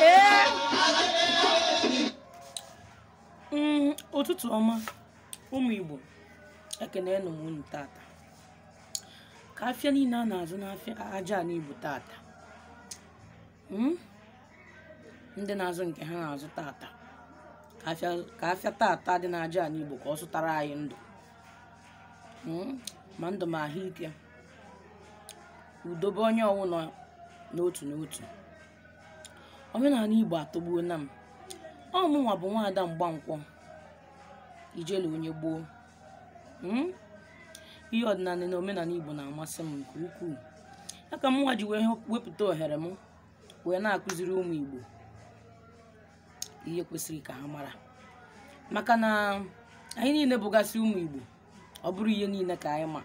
Ee. Mm, ụtụtụ ọma ụmụ igbo ekene nụ m unu tata ka afịa niile a na-azụ n'afịa aja anị igbo tata Hmm? ndị na-azụ nke ha na-azụ tata ka afịa tata dị n'aja anị igbo ka ọ zụtara anyị ndụ hmm? ma ndụ ma ahụike udo be onye ọwụna n'otu n'otu omenala igbo atọgbuo na m ọ mụnwa bụ nwaada mgbankwọ ijele onye gboo Mm? ihe ọdịnala na omenala igbo na-amasị m nke ukwuu ya ka mụnwa ji wepụta ohere m wee na-akụziri ụmụ igbo ihe kwesịrị ka ha mara maka na anyị niile bụgasị ụmụ igbo ọ bụrọ ihe niile ka anyị ma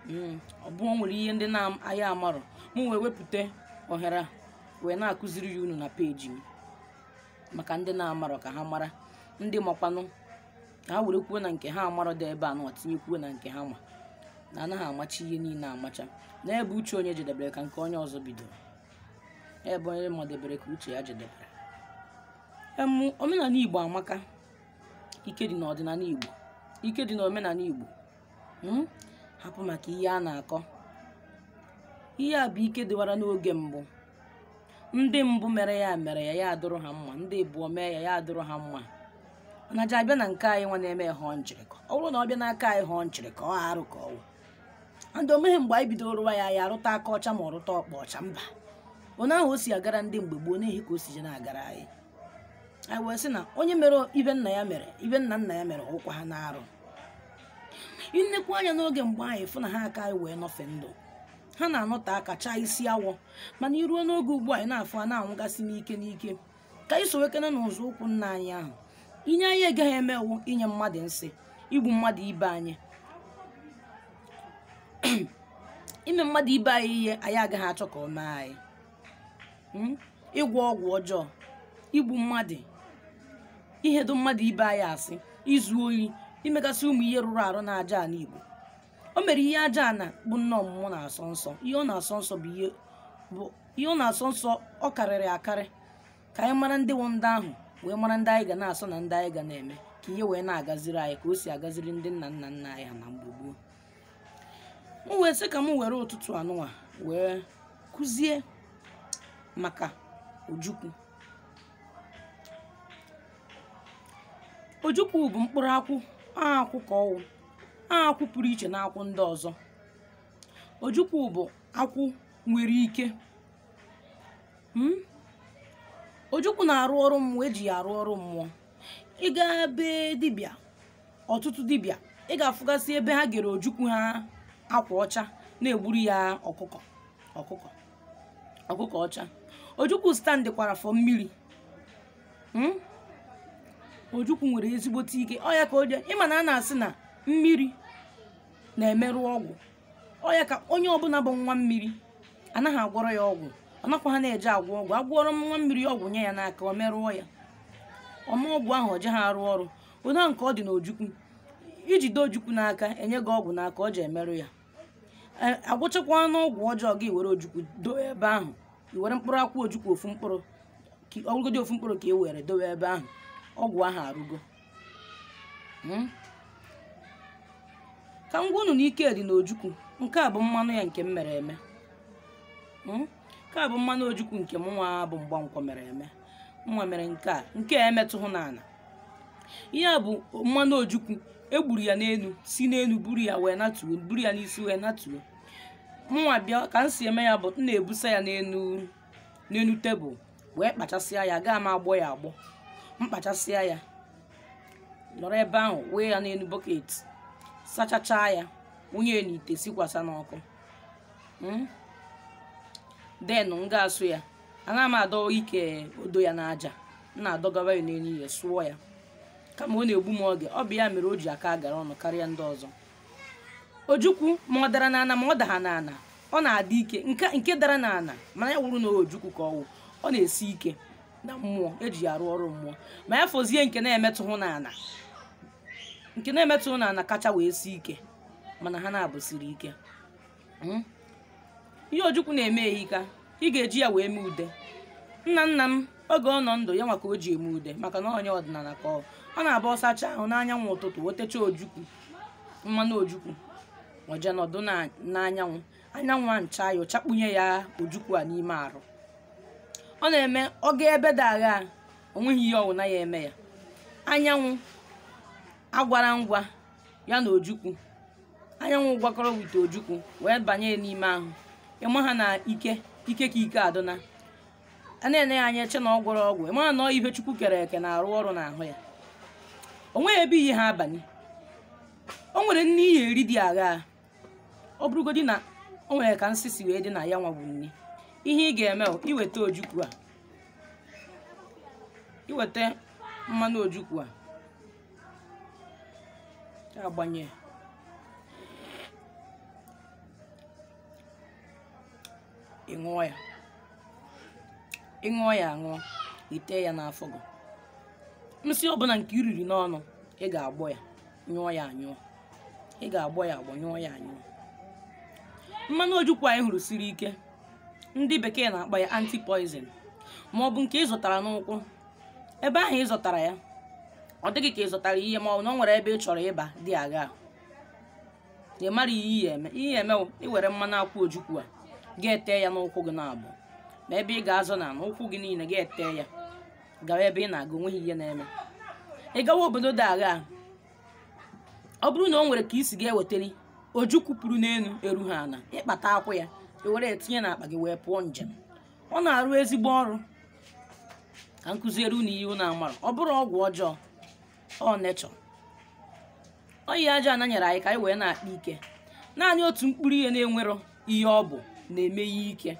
Mm, ọ bụ o nwere ihe ndị na anyị amarọ mụ wee wepụta ohere wee na-akụziri ya unu na peji m maka ndị na-amarọ ka ha mara ndị makwanụ ka ha werekwuo na nke ha amarọ dị ebe a nọ tinyekwuo na nke ha ma na anaghị amacha ihe niile amacha na ebe uche onye jedebere ka nke onye ọzọ bidoro ebe onye madebere ka uche ya jedebere em omenala igbo amaka ike dị n'ọdịnala igbo ike dị n'omenala igbo mm? hapụ maka ihe a na-akọ ihe a bụ ike dịwara n'oge mbụ ndị mbụ mere ya mere ya ya adụrụ ha mma ndị abụọ mee ya ya adụrụ ha mma na ji abịa na nke anyị nwa na-eme ya họọ nchịrịkọ ọ bụrụ na ọ bịa n'aka anyị họọ nchịrịkọ ọ arụ ka ọ wụ ndị omeghe mgbe anyị bidoro rụwa ya ya arụta aka ọcha ma ọ rụta ọkpa ọcha mba onye ahụ o si agara ndị mgbe gboo n'ehi ka o si je na-agara anyị anyị wee sị na onye mere ihe nna ya mere ihe nna nna ya mere ọkwa ha na-arụ nekwa anya n'oge mgbe anyị fụ na ha aka anyị wee nọfe ndụ ha na-anọte aka chaa isi awọ mana i ruo n'oge ugbu a anyị na-afụ a na-anwụgasị n'ike n'ike ka anyị sowekene n'ụzọ ụkwụ nna anyị ahụ ihe anyị agaghị eme wụ inye mmadụ nsị igbu mmadụ ibe anyị ime mmadụ ibe anyị ihe anyị agaghị achọ ka o mee anyị Mm? ịgwọ ọgwụ ọjọọ igbu mmadụ ihedo mmadụ ibe anyị asị izu oyi imegasị ụmụ ihe rụrụ arụ n'aja anị igbo o mere ihe aja ana bụ nne ọmụmụ na-asọ nsọ ihe ọ na-asọ nsọ bụ ihe bụ ihe ọ na-asọ nsọ ọ karịrị akarị ka anyị mara ndị wụ ndị ahụ wee mara ndị anyị ga na-asọ na ndị anyị ga na-eme ka ihe wee na-agaziri anyị ka o si agaziri ndị nna nna nna anyị ha na mgbe gboo m wee sị ka m were ụtụtụ a nụnwa wee kụzie maka ojukwu ojukwu bụ mkpụrụ akwụ akwụ ka ọ wụ akwụ pụrụ iche na akwụ ndị ọzọ ojukwu bụ akwụ nwere ike hmm? ojukwu na-arụ ọrụ mmụọ e ji ya arụ ọrụ mmụọ ị gaa be dibịa ọtụtụ dibịa ị ga-afụgasị ebe ha gere ojukwu ha akwa ọcha na-egburu ya ọkụkọ ọcha ojukwu stand kwara for mmiri Hmm? ojukwu nwere ezigbote ike ọ ya ka o ji ị ma na a na-asị na mmiri na-emerụ ọgwụ ọ ya ka onye ọbụla bụ nwa mmiri anaghị agwọrọ ya ọgwụ ọ nakwaha na-eje agwọ ọgwụ a gwọrọ nwa mmiri ọgwụ nye ya n'aka o merụọ ya ọma ọgwụ ahụ o jeha arụ ọrụ onye ahụ nke ọ dị n'ojukwu i jide ojukwu n'aka e nye gị ọgwụ n'aka o je emerụ ya a gwọchakwanụ ọgwụ ọjọọ gị were ojukwu dowe ebe ahụ i were mkpụrụ akwụ ojukwu ofu mkpụrụ ọ wụgodi ofu mkpụrụ ka e were dowe ebe ahụ ọgwụ ahụ arụgo hmm? ka m gwa unu na ike dị n'ojukwu nke a bụ mmanụ ya nke m mere eme hmm? nke a bụ mmanụ ojukwu nke m nwa bụ mgbankwọ mere eme nwa mere nke a nke a emetụhụ n'ana ihe a bụ mmanụ ojukwu e gburu ya n'enu si n'enu buru ya wee natuo buru ya n'isi wee natuo mụnwa bịa ka m si eme ya bụ m na-ebusa ya n'enu tebụl wee kpachasịa ya gaa m agbọ ya agbọ m kpachasịa ya nọrọ ebe ahụ wee ya n'enu bọket sachachaa ya wụnye ya n'ite sikwasa n'ọkụ then m ga-asụ ya anaghị m adọ ikwe odo ya n'aja m na-adọgara ya n'elu ihe sụọ ya kama ọ na-egbu m oge ọ bụ ya mere o ji aka agara ọnụ karịa ndị ọzọ ojukwu ma ọ dara n'ana ma ọ daha n'ana ọ na-adị ike nke dara n'ana mana ya wụrụ na ojukwu ka ọ wụ ọ na-esi ike na mmụọ e ji ya arụ ọrụ mmụọ ma ya fọzie nke na-emetụhụ n'ana nke na-emetụhụ n'ana kacha wee sie ike mana ha naabọ siri ike Hmm? ihe ojukwu na-eme ehika ị ga-eji ya wee mee ude nna nna m oge ọ nọ ndụ ya nwa ka o ji eme ude maka na onye ọdịnala ka ọ ọ na-abụ ọ sachaa ahụ n'anyanwụ ụtụtụ o techaa ojukwu mmanụ ojukwu o jee nọdụ na- n'anyanwụ anyanwụ ana-acha ya ọ chakpunye ya ojukwu a n'ime arụ ọ na-eme ọ gaa ebe dị agha o nweghị ihe ọwụna ya-eme ya anyanwụ agwara ngwa ya na ojukwu anyanwụ gwakọrọ with ojukwu wee banye n'ime ahụ ịma ha na ike ike ka ike adịna a na-ene ya anya eche na ọ gwọrọ ọgwụ ịma ha na ọ ihe chukwu kere eke na-arụ ọrụ n'ahụ ya o nweghị ebe i yeha abanye o nwere nni i ye-eri dị agha ọ bụrụgodị na o nwere ka nsị si wee dị na ya nwa bụ nni ihe ị ga-eme bụ iweta ojukwu a iweta mmanụ ojukwu a agbanye ị ṅụọ ya ị ṅụọ ya aṅụ i tee ya n'afọ gị nsị ọbụla nke i riri n'ọnụ ị ga-agbọ ya nyụọ ya anyụ ị ga-agbọ ya agbọ nyụọ ya anyụ mmanụ ojukwu anyị hụrụ siri ike ndị bekee na-akpọ ya anti-poison ma ọ bụ nke ị zọtara n'ụkwụ ebe ahụ ị zọtara ya ọ dị gị ka ị zọtara ihe ma ọ bụ na ọ nwere ebe ị chọrọ ịba dị agha ị mara ihe i ye-eme ihe eme wụ iwere mmanụ akwụ ojukwu a ga-ete ya n'ụkwụ gị naabọ ma ebe ị ga-azọ ana n'ụkwụ gị niile ga-ete ya gawa ebe ị na-aga onweghị ihe na-eme ị gawa obodo dị agha ọ bụrụ na ọ nwere ka i si ga-ewetali ojukwu pụrụ n'enu eru ha ana ị kpata akwụ ya i were ya tinye n'akpa gị wee pụọ njem ọ na-arụ ezigbo ọrụ ka m kuziere unu ihe unu amara ọ bụrọ ọgwụ ọjọọ ọ nature ọ ihe aja ana nyere anyị ka anyị wee na-akpa ike naanị otu mkpụrụ ihe na-enwero ihe ọbụna eme ya ike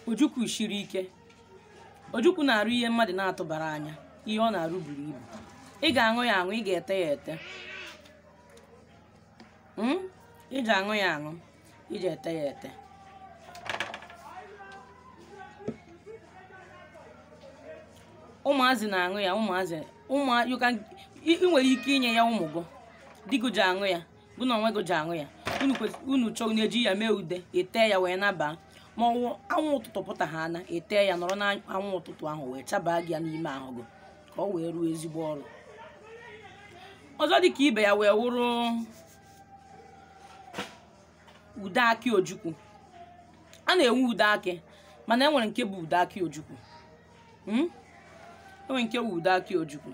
ojukwu shiri ike ojukwu na-arụ ihe mmadụ na-atụbara anya ihe ọ na-arụ buru ibu ị ga-aṅụ ya aṅụ ị ga-ete ya ete Mm? ị ga-aṅụ ya aṅụ i ji ete ya ete ụmụazị na-aṅụ ya ụmụazị ụmụ you can ị ị nwere ike inye ya ụmụ gị di gị ji aṅụ ya gị na onwe gị ji aṅụ ya unu kwes- unu chọọ na-eji ya mee ude etee ya wee nabaa ma ọ wụ anwụ ụtụtụ pụta ha ana etee ya nọrọ n'anwụ ụtụtụ ahụ wee chabaa gị ya n'ime ahụ gị ka ọ wee rụọ ezigbo ọrụ ọzọ dị ka ibe ya wee wụrụ ude akị ojukwu a na-enwe ude akị mana enwere nke bụ ude akị ojukwu Hmm? enwere nke bụ ude akị ojukwu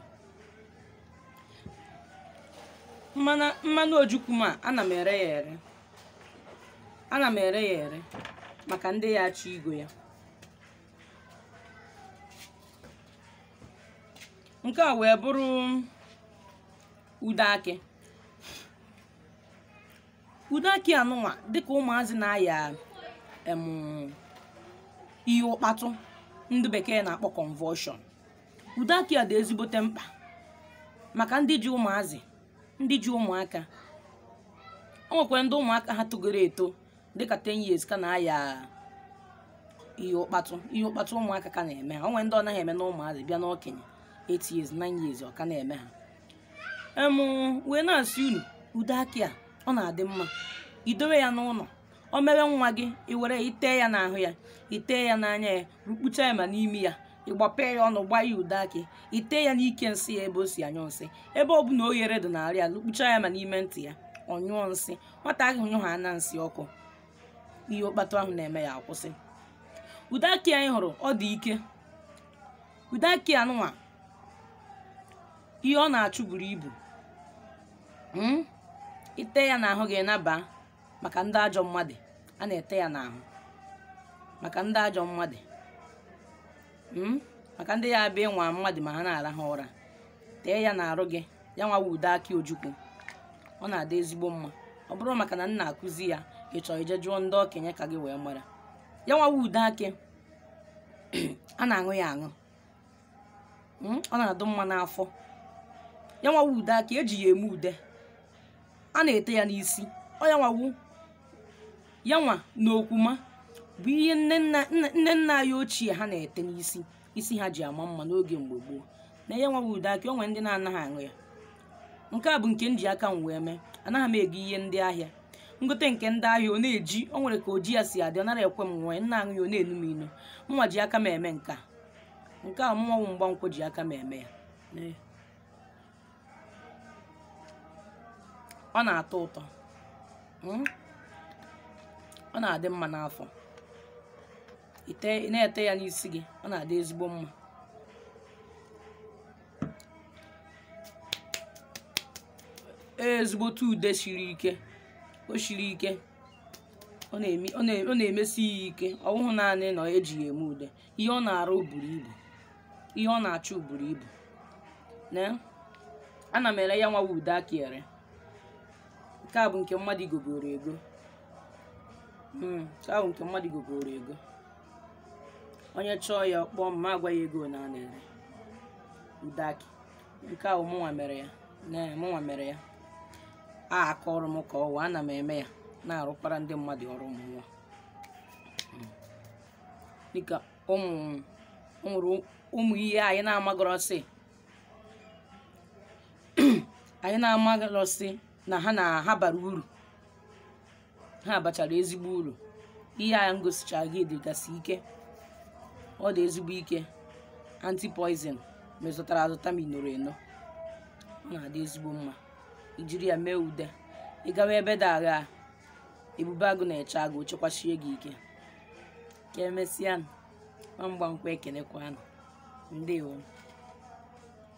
mmanụ mmanụ ojukwu ma ana m ere ya ere ana m ere ya ere maka ndị ya achọ igo ya nke a wee bụrụ ude akị ude akị anụnwa dịka ụmụazị na-aya em ihe ụkpatụ ndị bekee na-akpọ convulsion ude akị a dị ezigbote mkpa maka ndị ji ụmụazị ndị ji ụmụaka o nwekwara ndị ụmụaka ha togoro eto dịka 10 years ka na-aya ihe ụkpatụ ihe ụkpatụ ụmụaka ka na-eme ha o nwere ndị ọ naghị eme na ụmụazị bịa n'okenye 8 years 9 years ọ ka na-eme ha em wee na-asị unu ude akị a ọ na-adị mma idowe ya n'ụlọ o mewe nwa gị iwere itee ya n'ahụ ya itee ya n'anya ya rukpucha ya ma n'imi ya ịgbapee ya ọnụ gbaa ya ude akị itee ya n'ike nsị ya ebe o si anyụ nsị ebe ọ bụla oghere dị n'arụ ya rukpucha ya ma n'ime ntị ya ọ nyụọ nsị nwata ahụ nyụhana nsị ọkụ ihe ụkpatụ ahụ na-eme ya akwụsị ude akị a ị hụrụ ọ dị ike ude akị anụnwa ihe ọ na-achụ buru ibu Mm? ite ya n'ahụ gị naba maka ndị ajọ mmadụ a na-ete ya n'ahụ maka ndị ajọ mmadụ Mm? maka ndị ya abịa ịnwa mmadụ ma ha na-arahụ ụra tee ya n'arụ gị ya nwa wụ ude akị ojukwu ọ na-adị ezigbo mma ọ bụrụ maka na m na-akụzi ya ị chọrọ ije jụọ ndị okenye ka gị wee mara ya nwa wụ ude akị a na-aṅụ ya aṅụ Mm, ọ na-adụ mma n'afọ ya nwa wụ ude akị eji ya eme ude a na-ete ya n'isi ọ ya nwa wụ ya nwa na okwuma bụ ihe nne nna nne nna anyị ochie ha na-ete n'isi isi ha ji ama mma n'oge mgbe gboo na ya nwa wụ ude akị o nwere ndị na-anaghị aṅụ ya nke a bụ nke m ji aka m wee mee anaghị m ego ihe ndị ahịa m gote nke ndị ahịa ọ na-eji o nwere ka oji ya si adị ọ nara ekwe m ṅụọ m na-aṅụ ya ọ na-enu m inu mụnwa ji aka m eme nke a nke a mụnwa wụ mgbankwọ ji aka m eme ya Ee. ọ na-atọ ụtọ Mm. ọ na-adị mma n'afọ ite ị na-ete ya n'isi gị ọ na-adị ezigbo mma ezigbote ude siri ike o siri ike ọ na-eme- ọ na- ọ na-emesi ya ike ọ bụghị naanị na eji ya eme ude ihe ọ na-arụ buru ibu ihe ọ na-achụ buru ibu na ana m ere ya nwa wụ ude akị ere nke a bụ nke mmadụ gogoro ego Mm, nke ahụ nke mmadụ gogoro ego onye chọọ ya ọ kpọọ m ma agwa ya ego na a na-ere ude akị nke ahụ mụnwa mere ya na mụnwa mere ya aka ọrụ m ka ọ wa ana m eme ya na-arụkwara ndị mmadụ ọrụ mmụọ Mm. dịka ụmụ o nwere ụmụ ihe anyị na-amagọrọsị anyị na-amagọrọsị na ha na ha bara uru ha bachara ezigbo uru ihe a m gosichara gị dịgasị ike ọ dị ezigbo ike antipoison ma ị zọtara azọta ma i noro eno ọ na-adị ezigbo mma i jiri ya mee ude ị gawa ebe dị agha ebube agụ na-eche agụ chekwasie gị ike ka emesịa nụ ma mgba nkwa ekenekwa ụnụ ndewo